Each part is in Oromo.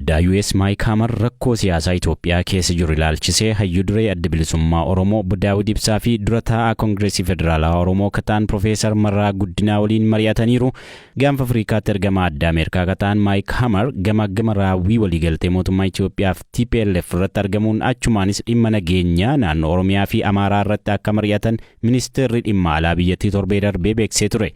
Daayues Maayik Haamar rakkoo siyaasaa Itoophiyaa keessa jiru ilaalchisee hayyu duree Adda Bilisummaa Oromoo Obbo Daawud Ibsaa fi dura taa'aa Kongireesii Federaalawaa Oromoo ka ta'an Pirofeesar Mararaa Guddinaa waliin mari'ataniiru. Gaanfa Afriikaatti ergamaa addaa Ameerikaa ka ta'an Maayik Haamar gamaaggama raawwii waliigaltee mootummaa Itoophiyaa fi tplf irratti argamuun achumaanis dhimma nageenyaa naannoo Oromiyaa fi Amaaraa irratti akka mari'atan Ministeerri Dhimma Alaa biyyattii torbee darbee beeksisee ture.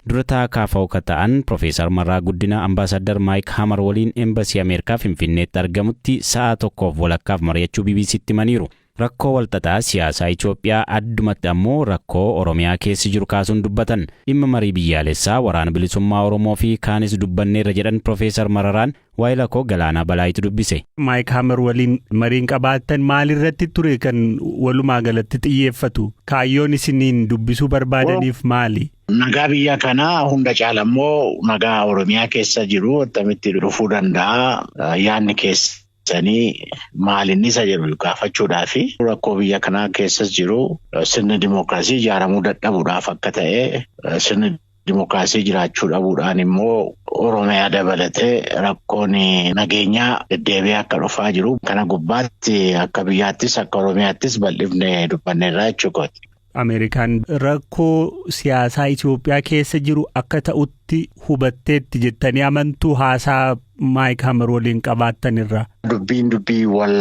Dura taa'aa kfo ka ta'an Profeesar Marraa Guddinaa Ambaasaaddar Maayik Hamar waliin Embasii Ameerikaa Finfinneetti argamutti sa'aa tokkoof walakkaaf mari'achuu BBC'tti himaniiru. Rakkoo walxaxaa siyaasaa Itoophiyaa addumatti ammoo rakkoo Oromiyaa keessi jiru kaasuun dubbatan. Dhimma marii biyyaalessaa, Waraana Bilisummaa Oromoo fi kaanis dubbanneerra jedhan Profeesar Mararaan. Waayila koo Galaanaa Balaayitu dubbise. Maayik Hamer waliin mariin qabaattan maalirratti ture kan walumaa galatti xiyyeeffatu? Kaayyoon isiniin dubbisuu barbaadaniif maali? Nagaa biyya kanaa hunda caala immoo nagaa Oromiyaa keessa jiru attamitti dhufuu danda'a yaadni keessanii maalinni isa jedhu gaafachuudhaa fi rakkoo biyya kanaa keessas jiru sirni dimookiraasii ijaaramuu dadhabuudhaaf akka ta'e sirni Dimookiraasii jiraachuu dhabuudhaan immoo Oromiyaa dabalatee rakkoon nageenyaa deddeebi'ee akka dhufaa jiru kana gubbaatti akka biyyaattis akka Oromiyaattis bal'ifne dubbanneerra jechuudha. Ameerikaan rakkoo siyaasaa Itoophiyaa keessa jiru akka ta'utti hubatteetti jettanii amantuu haasaa Maayik Hammer waliin qabaattanirra. Dubbiin dubbii wal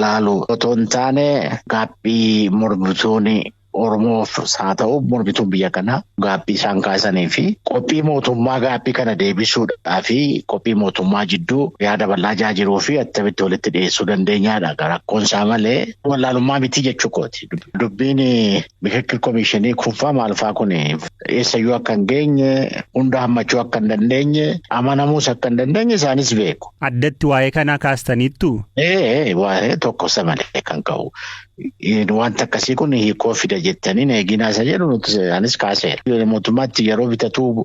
laalu otoo hin taane gaaffii mormitoonni Oromoof haa ta'u mormituun biyya kanaa gaaffii isaan kaasanii fi qophii mootummaa gaaffii kana deebisuudhaa fi qophii mootummaa jidduu yaada bal'aa jaa jiruu fi attamitti walitti dhiyeessuu dandeenyaadha. Rakkoon isaa malee wallaalummaa miti jechuu kooti. Dubbiin mikirkir komishinii kunfaa maalfaa kun eessayyuu akka hin geenye hunda hammachuu akka hin dandeenye amanamuus akka hin dandeenye isaanis beeku. Addatti waa'ee kanaa kaastaniittu? Ee waa'ee tokkosa malee kan ka'u. Wanti akkasii kun hiikoo fida jettanii na eeginaa isa jedhu nuti anis kaaseera. Mootummaatti yeroo bitatu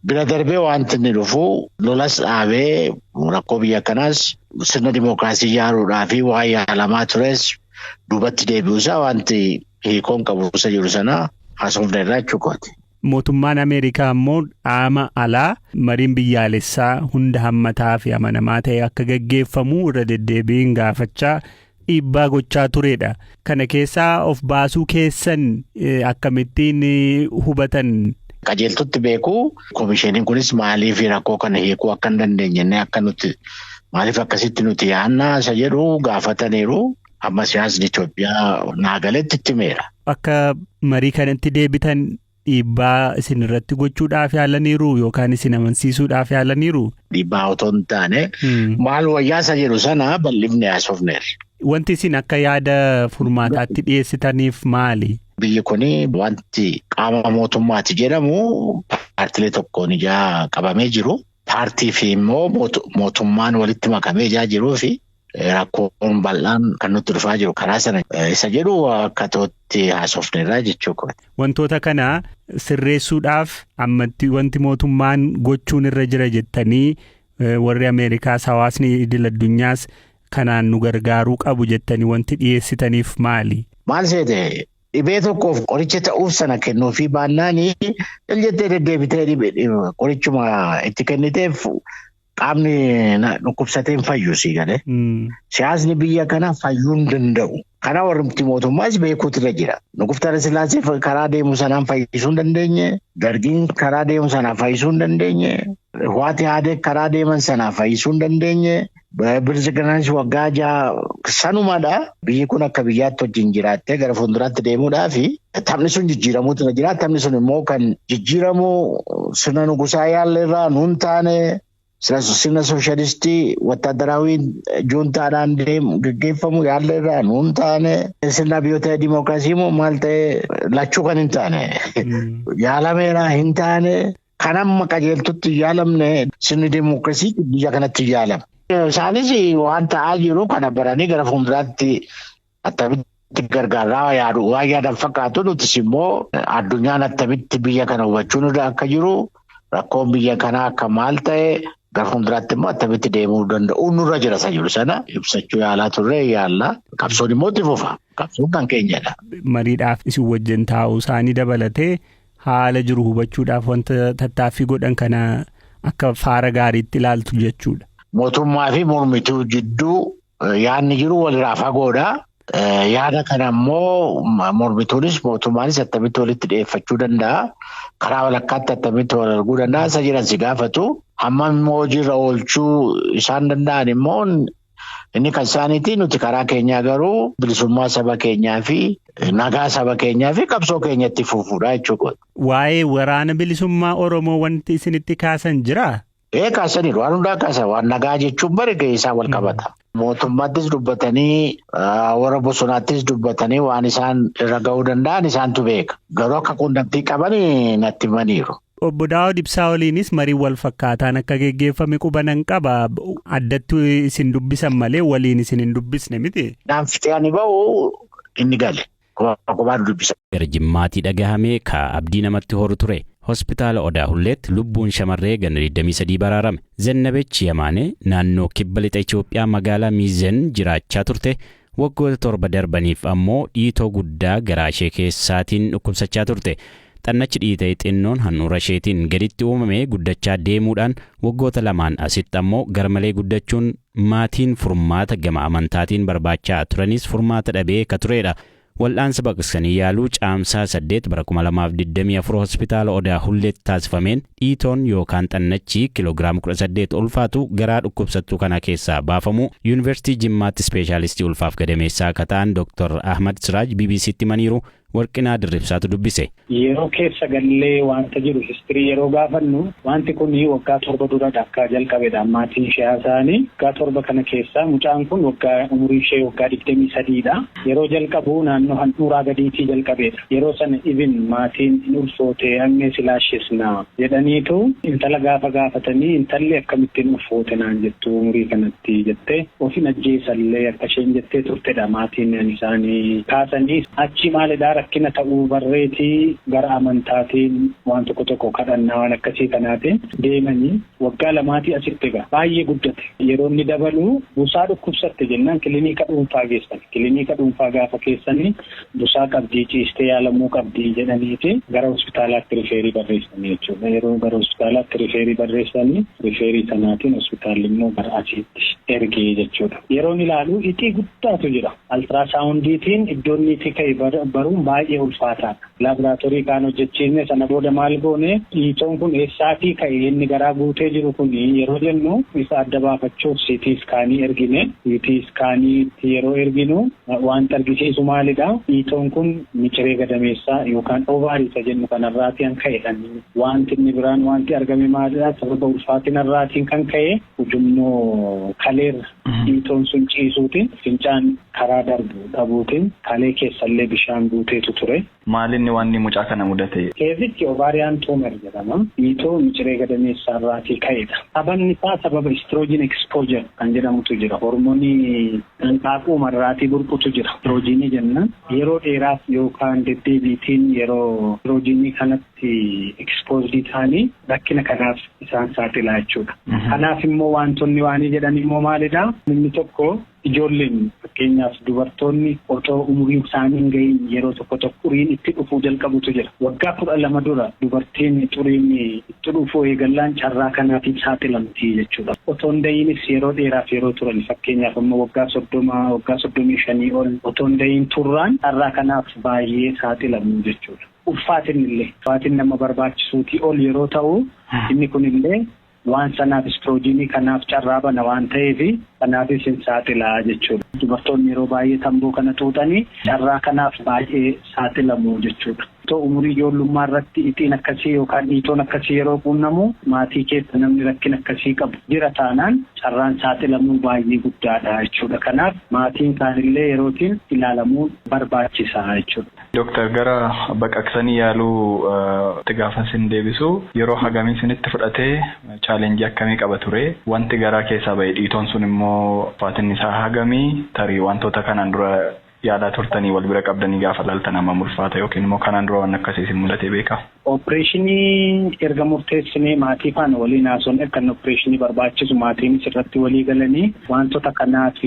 bira darbee wanti inni dhufu lolas dhaabee rakkoo biyya kanaas sirna dimookiraasii ijaaruudhaa fi waan yaalamaa tures duubatti deebi'uusaa wanti hiikoon qabu isa jiru sana haasofne irraa jechuudha. Mootummaan Ameerikaa ammoo dhaama alaa mariin biyyaalessaa hunda hammataa fi amanamaa ta'e akka gaggeeffamu irra deddeebiin gaafachaa dhiibbaa gochaa turedha. Kana keessaa of baasuu keessan akkamittiin hubatan? Qajeeltutti beeku. Komishiiniin kunis maaliif rakkoo kana hiikuu akka hin dandeenye akka nuti maaliif akkasitti nuti yaadna isa jedhu gaafataniiru. amma siyaasni Itoophiyaa naa galetti itti himeera. Akka marii kanatti deebitan dhiibbaa isin irratti gochuudhaaf yaalaniiru yookaan isin amansiisuudhaaf yaalaniiru. Dhiibbaa otoo hin taane maal wayyaasa jedhu sana bal'ifne haasofneerra. Wanti isin akka yaada furmaataatti dhiyeessitaniif maali? Biyyi kun wanti qaama mootummaati jedhamu paartilee tokkoon ijaa qabamee jiru. Paartii fi immoo mootummaan walitti makamee ijaa jiruu fi rakkoon bal'aan kan nutti dhufaa jiru karaa sana isa jedhu akka tootti haasofneerraa jechuu kooti. Wantoota kana sirreessuudhaaf ammatti wanti mootummaan gochuun irra jira jettanii warri Ameerikaas hawaasni idil addunyaas kanaan nu gargaaruu qabu jettanii wanti dhiyeessitaniif maali? Maal seete dhibee tokkoof qoricha ta'uuf sana kennuufii baannaanii jettee deddeebitee qorichuma itti kenniteef Qaamni dhukkubsatee hin fayyu sii galee. Siyaasni biyya kana fayyuu hin danda'u. Kana warri mootummaas beekuutu irra jira. Nuguftara Sillaasee karaa deemu sanaan fayyisuu hin dandeenye. Dargiin karaa deemu sanaan fayyisuu hin dandeenye. Waati haadee karaa deeman sanaan fayyisuu hin dandeenye. Bilisiginaanis waggaa jaha sanumadha. Biyyi kun akka biyyaatti wajjin jiraattee gara fuulduraatti deemuudhaafi Taphni sun jijjiiramuutu na jira. Taphni sun immoo kan jijjiiramu sirna nugusaa yaalle irraa nuun taane sirna sooshaalistii wattaaddaraawiin juuntaadhaan deemu gaggeeffamu yaalle irraa nuun taane sirna biyyoota dimookiraasii immoo maal ta'e lachuu kan hin taane yaalameera hin taane kan amma qajeeltutti hin yaalamne sirni dimookiraasii biyya kanatti hin yaalama. Isaanis waan ta'aa jiru kana baranii gara fuulduraatti Attamitti gargaarraa yaadu waan yaadan fakkaatu nutis immoo addunyaan attamitti biyya kana hubachuun irra akka jiru rakkoon biyya kanaa akka maal ta'e gara fuulduraatti immoo attamitti deemuu danda'u nurra jira isa jiru sana ibsachuu yaalaa turre yaalla. Qabsoon immoo itti fufa. Qabsoon kan keenyadha. Mariidhaaf isin wajjin taa'uu isaanii dabalatee haala jiru hubachuudhaaf wanta tattaaffii godhan kana akka faara gaariitti ilaaltu jechuudha. Mootummaa fi mormituu jidduu yaadni jiru walirraa fagoodha. Yaada kana immoo mormituunis mootummaanis attamitti walitti dhiyeeffachuu danda'a. Karaa walakkaatti attamitti wal arguu danda'a. Isa jedhan si gaafatu. Hammam immoo hojiirra oolchuu isaan danda'an immoo inni kan isaaniiti. Nuti karaa keenyaa garuu bilisummaa saba keenyaa fi nagaa saba keenyaa fi qabsoo keenyatti fufuudha jechuudha. Waa'ee waraana bilisummaa Oromoo wanti isinitti kaasan jiraa? Ee kaasaniiru. Waan hundaa kaasa. Waan nagaa jechuun bari gahee isaa wal qabata. Mootummaattis dubbatanii warra bosonaattis dubbatanii waan isaan irra gahuu danda'an isaantu beeka. Garuu akka quunnamtii qaban natti himaniiru. Obbo Daawud Ibsaa waliinis marii wal fakkaataan akka geggeeffame qubanan qaba. Addatti isin dubbisan malee waliin isin hin dubbisne miti. Naan fixee ani bahu inni gale. Kophaa kophaan dubbisa. Gara Jimmaatii dhagahame ka abdii namatti horu ture. Hospitaala Odaa Hulleetti lubbuun shamarree ganna 23 baraarame. Zennabech Yamaanee naannoo kibba lixa Itoophiyaa magaalaa Miizen jiraachaa turte. Waggoota torba darbaniif ammoo dhiitoo guddaa garaa ishee keessaatiin dhukkubsachaa turte. Xannachi dhiitee xinnoon handhuura isheetiin gaditti uumame guddachaa deemuudhaan waggoota lamaan asitti ammoo garmalee guddachuun Maatiin furmaata gama amantaatiin barbaachaa turanis furmaata dhabee ka tureedha. Wal'aansa baqaqsanii yaaluu Caamsaa 8 bara 2024 Hospitaala Odaa Hulleetti taasifameen dhiitoon yookaan xannachi kiloogiraama 18 ulfaatu garaa dhukkubsattuu kanaa keessaa baafamuu Yuunivarsiitii Jimmaatti Ispeeshaalistii Ulfaaf Gadameessaa ka ta'an Dr. Ahmad Siraaj BBC'tti himaniiru. Warqinaa Dirribsaatu dubbise. Yeroo keessa gallee wanta jiru history yeroo gaafannu wanti kun waggaa torba dura akka jalqabedha maatiin ishee haasa'ani. Waggaa torba kana keessa mucaan kun waggaa umuriin ishee waggaa digdamii sadii dha. Yeroo jalqabu naannoo handhuuraa gadiitii jalqabeedha. Yeroo sana even maatiin hin ulfoote ammee si laashesna jedhaniitu intala gaafa gaafatanii intalli akkamitti hin ulfoote naan jettu umurii kanatti jettee. Of hin ajjeesallee akka isheen jettee turtedha maatiin isaanii kaasanii. Achii maal edaa rakkina ta'uu barreeti gara amantaatiin waan tokko tokko kadhannaa waan akkasii kanaatiin deemanii waggaa lamaatii asitti egaa baay'ee guddate. Yeroo inni dabalu busaa dhukkubsatte jennaan kiliniika dhuunfaa geessan. Kiliniika dhuunfaa gaafa keessanii busaa qabdii ciistee yaalamuu qabdi jedhaniiti gara hospitaalaatti rifeerii barreessanii jechuudha. Yeroo gara hospitaalaatti rifeerii barreessanii rifeerii sanaatiin hospitaalli immoo gara asiitti ergee jechuudha. Yeroon ilaalu ixii guddaatu jira. Altiraasaawundiitiin iddoon niitii ka'e baruun baay'ee ulfaataadha. Laaboraatoorii kaan hojjechiisne sana booda maal goone dhiitoon kun eessaatii ka'e inni garaa guutee jiru kun yeroo jennu isa adda baafachuuf siitii iskaanii ergine. Siitii iskaaniitti yeroo erginu Waanti argisiisu maalidha? Dhiitoon kun miciree gadameessaa yookaan ovary isa jennu kanarraatii kan ka'edha. Waanti inni biraan waanti argame maalidha? Sababa ulfaatinarraatiin kan ka'e ujummoo kaleerra dhiitoon sun ciisuutiin fincaan karaa darbu dhabuutiin kalee keessallee bishaan guuteetu ture. Maalinni waanni mucaa kana mudatee? Keezichi ovarian tumer jedhama. Dhiitoo miciree gadameessaa irraatii ka'edha. Sababni isaa sababa estrogen exposure kan jedhamutu jira. Hormonii hanqaaquuma irraatii burqutu jira. Istiroojiinii jennaan. Yeroo dheeraaf yookaan deddeebiitiin yeroo istiroojiinii kanatti exposed ta'anii rakkina kanaaf isaan saaxilaa jechuudha. Kanaaf immoo waantonni waanii jedhan immoo maalidha? Inni tokko. Ijoolleen, fakkeenyaaf dubartoonni, otoo umuriin isaanii hin ga'iin yeroo tokko tokko xuriin itti dhufuu jalqabutu jira. Waggaa 12 dura dubartiin xuriin itti dhufuu eegallaan carraa kanaatiif saaxilamti jechuudha. Otoo hin da'iinis yeroo dheeraaf yeroo turan, fakkeenyaaf amma waggaa 30, waggaa 35 ol otoo hin da'iin turraan carraa kanaaf baayyee saaxilamu jechuudha. Ulfaatinni illee, ulfaatinni amma barbaachisuutii ol yeroo ta'u, inni kun illee Waan sanaaf istiroojiinii kanaaf carraa bana waan ta'eef kanaafis hin saaxila jechuudha. Dubartoonni yeroo baay'ee tamboo kana xuuxani carraa kanaaf baay'ee saaxilamu jechuudha. Otoo umurii ijoollummaa irratti ixiin akkasii yookaan dhiitoon akkasii yeroo quunnamu maatii keessa namni rakkina akkasii qabu jira taanaan carraan saaxilamuu baay'ee guddaadha jechuudha. Kanaaf maatiin kaanillee yerootiin ilaalamuun barbaachisa jechuudha. Doktar gara baqaqsanii yaaluu tti gaafan sin deebisu yeroo hagamii sinitti fudhate challenge akkamii qaba ture wanti garaa keessaa bahe dhiitoon sun immoo ulfaatinni isaa hagami tarii wantoota kanaan dura yaalaa turtanii wal bira qabdanii gaafa laaltan hammam ulfaata yookiin immoo kanaan dura waan akkasii isin mudatee beekaa? Oppireeshinii erga murteessinee maatii faana waliin haasofne akka inni oppireeshinii barbaachisu maatiinis irratti walii galanii waantota kanaaf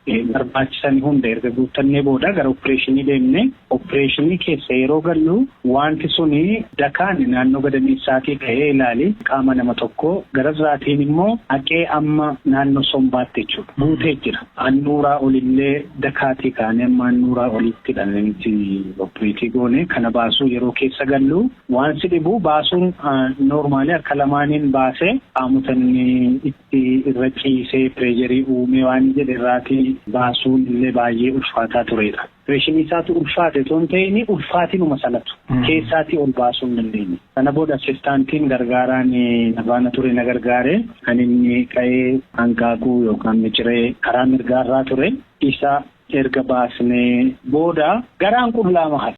barbaachisani hunda erga guuttannee booda gara oppireeshinii deemne. Oppireeshinii keessa yeroo gallu waanti suni dakaan naannoo gadameessaatii ka'ee ilaali qaama nama tokkoo, gararraatiin immoo haqee amma naannoo sombaatti jechuudha guutee jira. Annuuraa olillee dakaatii kaanee amma annuuraa oliittidha nuti oppireetii goone. Kana baasuu yeroo keessa gallu waan si dhibu baasuun noormaali harka lamaaniin baasee qaamota inni fi irra ciisee pireesharii uumee waan jedhe irraatii baasuun illee baayyee ulfaataa tureedha. Opereeshinii isaatu ulfaate otoo hin ta'ini ulfaatinuma sanatu keessaatii ol baasuu hin dandeenye. Sana booda assistaantiin gargaaraan na faana ture na gargaare. Kan inni ka'ee hanqaaquu yookaan miciree karaa mirgaa irraa ture. Isa erga baasnee booda garaan qullaama hafe.